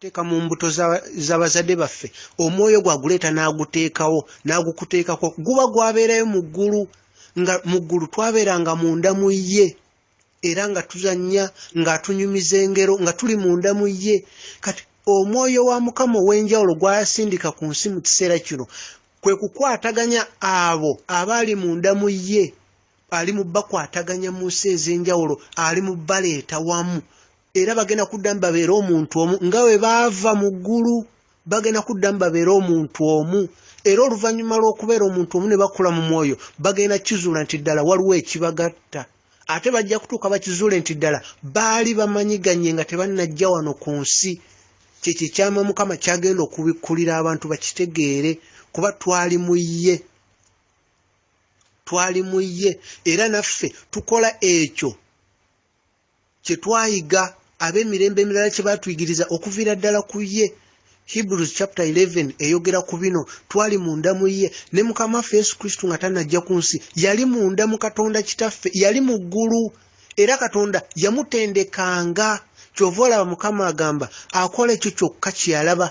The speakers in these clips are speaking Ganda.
teeka mu mbuto z'abazadde baffe omwoyo gwaguleeta n'aguteekawo n'agukuteekako guba gwabeerayo mu ggulu nga mu ggulu twabeeranga munda mu ye era nga tuzannya ng'atunyumiza engero nga tuli munda mu ye kati omwoyo wa mukama ow'enjawulo gwasindika ku nsi mu kiseera kino kwe kukwataganya abo abaali munda mu ye ali mu bakwataganya mu nsi ez'enjawulo ali mu baleeta wamu era bagenda kuddamu babeere omuntu omu nga bwe baava mu ggulu bagenda kuddamu babeere omuntu omu era oluvannyuma lw'okubeera omuntu omu ne bakula mu mwoyo bagenda kizuula nti ddala waliwo ekibagatta ate bajja kutuuka bakizuule nti ddala baali bamanyiganye nga tebannajja wano ku nsi kyekyo ekyama mukama kyagenda okubikkulira abantu bakitegeere kuba twali mu ye twali mu ye era naffe tukola ekyo kye twayiga ab'emirembe emirala kye baatuyigiriza okuviira ddala ku ye hebrews chapter 11 eyogera ku bino twali munda mu ye ne mukama waffe yesu kristo nga tanajja ku nsi yali munda mu katonda kitaffe yali mu ggulu era katonda yamutendekanga kyova olaba mukama agamba akola ekyo kyokka kyeyalaba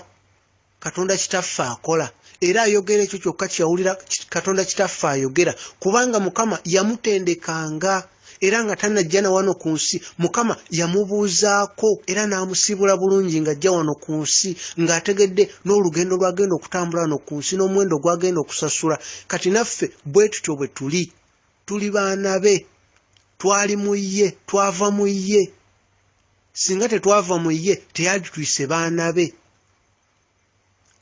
katonda kitaffe akola era ayogera ekyo kyokka kyeyawulira katonda kitaffe ayogera kubanga mukama yamutendekanga era nga tanajja na wano ku nsi mukama yamubuuzaako era n'amusiibula bulungi ng'ajja wano ku nsi ng'ategedde n'olugendo lw'agenda okutambula wano ku nsi n'omuwendo gw'agenda okusasula kati naffe bwe tutyo bwe tuli tuli baana be twali mu ye twava mu ye singa tetwava mu ye teyalitwise baana be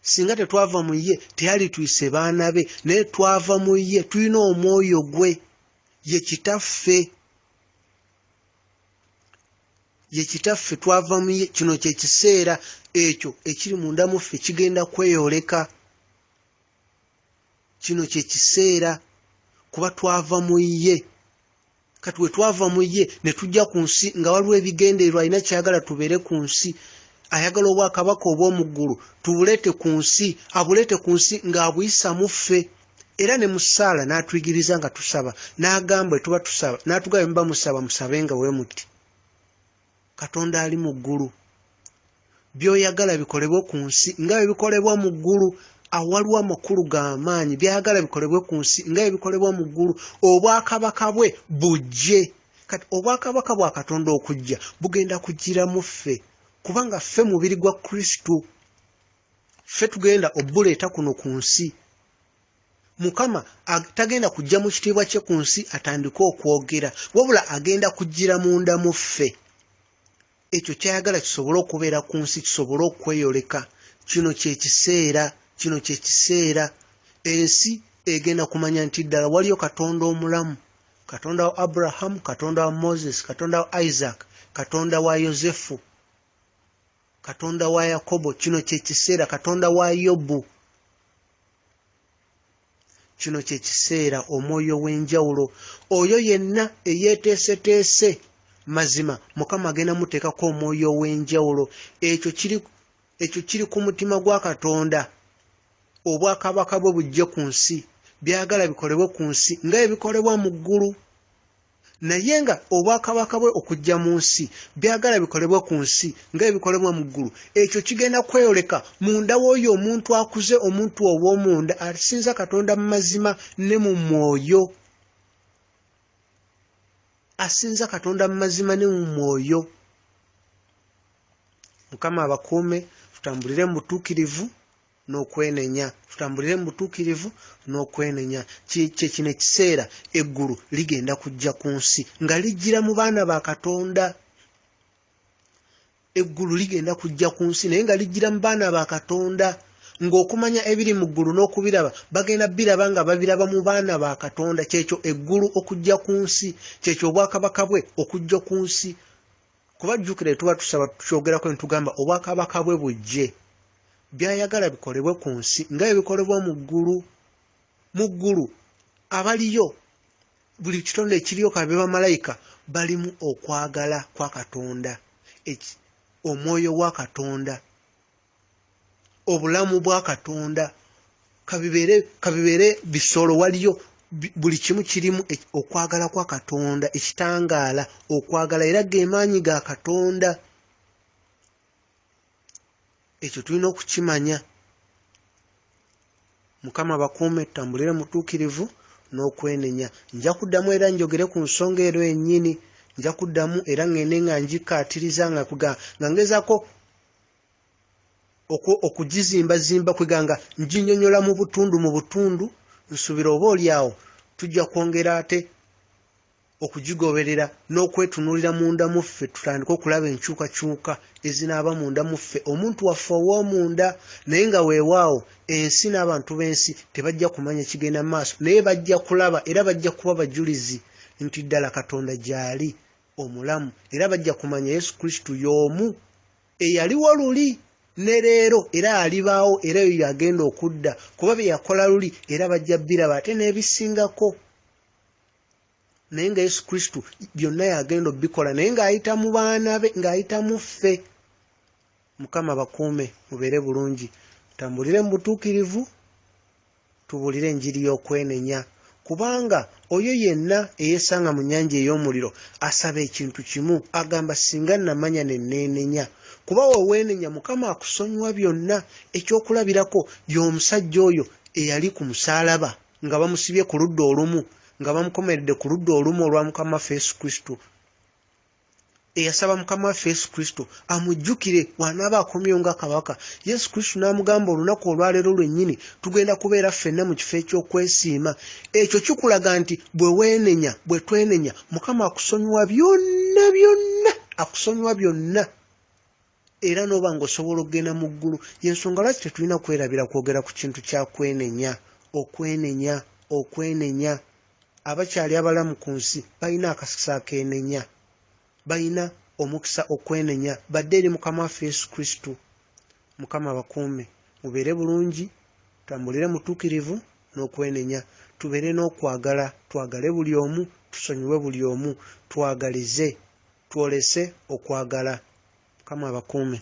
singa tetwava mu ye teyalitwise baana be naye twava mu ye tulina omwoyo gwe ye kitaffe ye kitaffe twava mu ye kino kyekiseera ekyo ekiri munda muffe kigenda kweyoleka kino kye kiseera kuba twava mu ye kati we twava mu ye ne tujja ku nsi nga waliwo ebigendererwa alina kyayagala tubeere ku nsi ayagala obwakabaka obw'omu ggulu tubuleete ku nsi abuleete ku nsi ng'abuyisa mu ffe era ne mu ssaala n'atuyigiriza nga tusaba n'agamba etuba tusaba n'atugaba muba musaba musabe nga we muti katonda ali mu ggulu byoyagala bikolebwe ku nsi nga byebikolebwa mu ggulu awaliwo amakulu g'amaanyi byayagala bikolebwe ku nsi nga byebikolebwa mu ggulu obwakabaka bwe bujje kati obwakabaka bwa katonda okujja bugenda kujjira mu ffe kubanga ffe mubiri gwa kristo ffe tugenda obuleeta kuno ku nsi mukama tagenda kujja mu kitiibwa kye ku nsi atandike okwogera wabula agenda kujjira munda mu ffe ekyo kyayagala kisobole okubeera ku nsi kisobole okweyoleka kino kyekiseera kino kyekiseera ensi egenda kumanya nti ddala waliyo katonda omulamu katonda wa abrahamu katonda wa moses katonda wa isaac katonda wa yosefu katonda wa yakobo kino kyekiseera katonda wa yobu kino kyekiseera omwoyo w'enjawulo oyo yenna eyeeteeseteese mazima mukama agenda muteekako omwoyo ow'enjawulo ekyo kiri ekyo kiri ku mutima gwa katonda obwakabaka bwe bujje ku nsi byagala bikolebwe ku nsi nga ebikolebwa mu ggulu naye nga obwakabaka bwe okujja mu nsi byagala bikolebwa ku nsi nga ebikolebwa mu ggulu ekyo kigenda kweyoleka munda w'oyo omuntu akuze omuntu ow'omunda asinza katonda mu mazima ne mu mwoyo asinza katonda mu mazima ne mu mwoyo mukama abakuume tutambulire mu butuukirivu n'okwenenya tutambulire mu butuukirivu n'okwenenya kye kino ekiseera eggulu ligenda kujja ku nsi nga lijjira mu baana ba katonda eggulu ligenda kujja ku nsi naye nga lijjira mu baana ba katonda ng'okumanya ebiri mu ggulu n'okubiraba bagenda biraba nga babiraba mu baana ba katonda kyekyo eggulu okujja ku nsi kyekyo obwakabaka bwe okujja ku nsi kuba jjukire tuba tusaba tukyogerako ne tugamba obwakabaka bwe bujje by'ayagala bikolebwe ku nsi nga bwe bikolebwa mu ggulu. Mu ggulu abaliyo buli kitonde ekiriyo ka be bamalayika balimu okwagala kwa Katonda, eki- omwoyo wa Katonda, obulamu bwa Katonda kabibeere kabibeere bisolo waliyo bi- buli kimu kirimu ek- okwagala kwa katonda ekitangaala okwagala era ge maanyi ga katonda ekyo tulina okukimanya mukama bakuume tambulire mutuukirivu n'okwenenya nja kuddamu era njogere ku nsonga ero ennyini nja kuddamu era ŋŋende nga ngikkaatiriza nga nga ngezaako okugizimbazimba kwega nga nginyonyola mu butundu mu butundu nsuubira oba oli awo tujja kwongera ate okugigoberera n'okwetunuulira munda mu ffe tutandike okulaba enkyukakyuka ezinaaba munda mu ffe omuntu waffe ow'omunda naye nga weewaawo ensi n'abantu b'ensi tebajja kumanya kigenda mu maaso naye bajja kulaba era bajja kuba bajulizi nti ddala katonda gyali omulamu era bajja kumanya yesu kristo y'omu eyaliwo luli ne leero era alibaawo era eyo yagenda okudda kuba bye yakola luli era bajja biraba ate n'ebisingako naye nga yesu kristo byonna yagenda obikola naye ng'ayita mu baana be ng'ayita mu ffe mukama bakuume mubeere bulungi tambulire mu butuukirivu tubuulire enjiri y'okwenenya kubanga oyo yenna eyesanga mu nnyanja ey'omuliro asaba ekintu kimu agamba singa namanya ne neenenya kuba weweenenya mukama akusonyiwa byonna ekyokulabirako y'omusajja oyo eyali ku musaalaba nga bamusibye ku ludda olumu nga bamukomeredde ku ludda olumu olwa mukama waffe yesu kristo eyasaba mukama waffe yesu kristo amujjukire wanaaba akomyewo nga kabaka yesu kristo n'amugamba olunaku olwaleero lwennyini tugenda kubeera ffenna mu kifo eky'okwesiima ekyo kikulaga nti bwe weenenya bwe twenenya mukama akusonyiwa byonna byonna akusonyiwa byonna era n'oba ng'osobola okugenda mu ggulu. Y'ensonga lwaki tetulina kwerabira kwogera ku kintu kya kwenenya, okwenenya, okwenenya. Abakyali abalamu ku nsi balina akakisa akeenenya. Balina omukisa okwenenya badde eri Mukama waffe Yesu Kristo. Mukama abakuume. Mubeere bulungi, tambulire mutuukirivu, n'okwenenya, tubeere n'okwagala, twagale buli omu, tusonyiwe buli omu, twagalize, twolese okwagala. Mukama abakuume.